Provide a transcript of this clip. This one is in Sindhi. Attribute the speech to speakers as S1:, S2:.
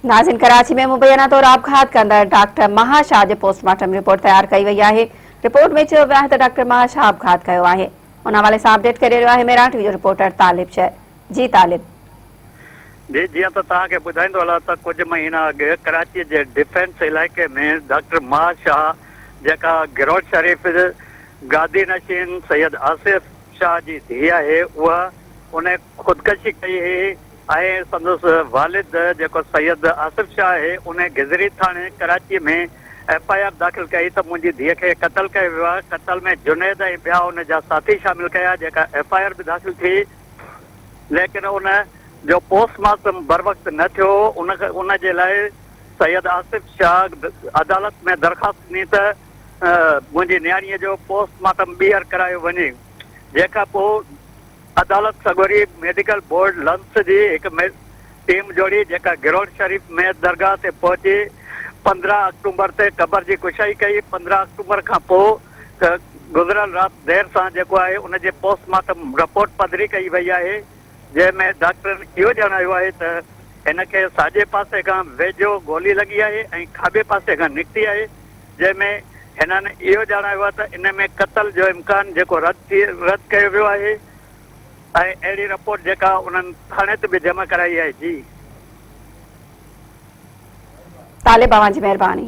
S1: ناظرين ڪراچي ۾ مبينا طور آپگهات ڪندڙ ڊاڪٽر مها شاهه جي پوسٽ مارٽم رپورٽ تيار ڪئي وئي آهي رپورٽ ۾ چيو ويو آهي ته ڊاڪٽر مها شاهه آپگهات ڪيو آهي ان حوالي سان اپڊيٽ ڪري رهيو آهي ميران ٽي وي جو رپورٽر طالب شر جي طالب
S2: جي جيئن ته توهان کي ٻڌائيندو هلان ته ڪجهه مهينا اڳ ڪراچي جي ڊفينس علائقي ۾ ڊاڪٽر مها شاهه جيڪا گرونڊ شريف گادي نشين سيد آصف شاهه جي ڌيء آهي اها ان خودڪشي ڪئي هئي ۽ سندس والد جيڪو سيد آصف شاهه آهي ان گذري ٿاڻي ڪراچيء ۾ ايف آء آر داخل ڪئي ته منهنجي ڌيء کي قتل ڪيو ويو آهي قتل ۾ جنيد ۽ ٻيا ان جا ساٿي شامل ڪيا جيڪا ايف آء آر به داخل ٿي ليڪن ان جو پوسٽ مارٽم بروقت نه ٿيو ان ان جي لاء سيد آصف شاهه عدالت ۾ درخواست ڏني ته منهنجي نياڻيء جو پوسٽ مارٽم ٻيهر ڪرايو وڃي جنهن کان پوء عدالت سڳوري ميڊيڪل بورڊ لنس جي هڪ ٽيم جوڙي جيڪا گرونڊ شريف ميت درگاهه تي پهچي پندرهن آڪٽومبر تي قبر جي ڪشائي ڪئي پندرهن آڪٽومبر کان پوء گذريل رات دير سان جيڪو آهي ان جي پوسٽ مارٽم رپورٽ پڌري ڪئي وئي آهي جنهن ۾ ڊاڪٽرن اهو ڄاڻايو آهي ته هن کي ساڄي پاسي کان ويجهو گولي لڳي آهي ۽ کاٻي پاسي کان نڪتي آهي جنهن ۾ هنن اهو ڄاڻايو آهي ته ان ۾ قتل جو امڪان جيڪو رد ٿي رد ڪيو ويو آهي ۽ اهڙي رپورٽ جيڪا انهن ٿاڻي تي به جمع ڪرائي آهي جي. طالب
S1: اوهان جي
S2: مهرباني.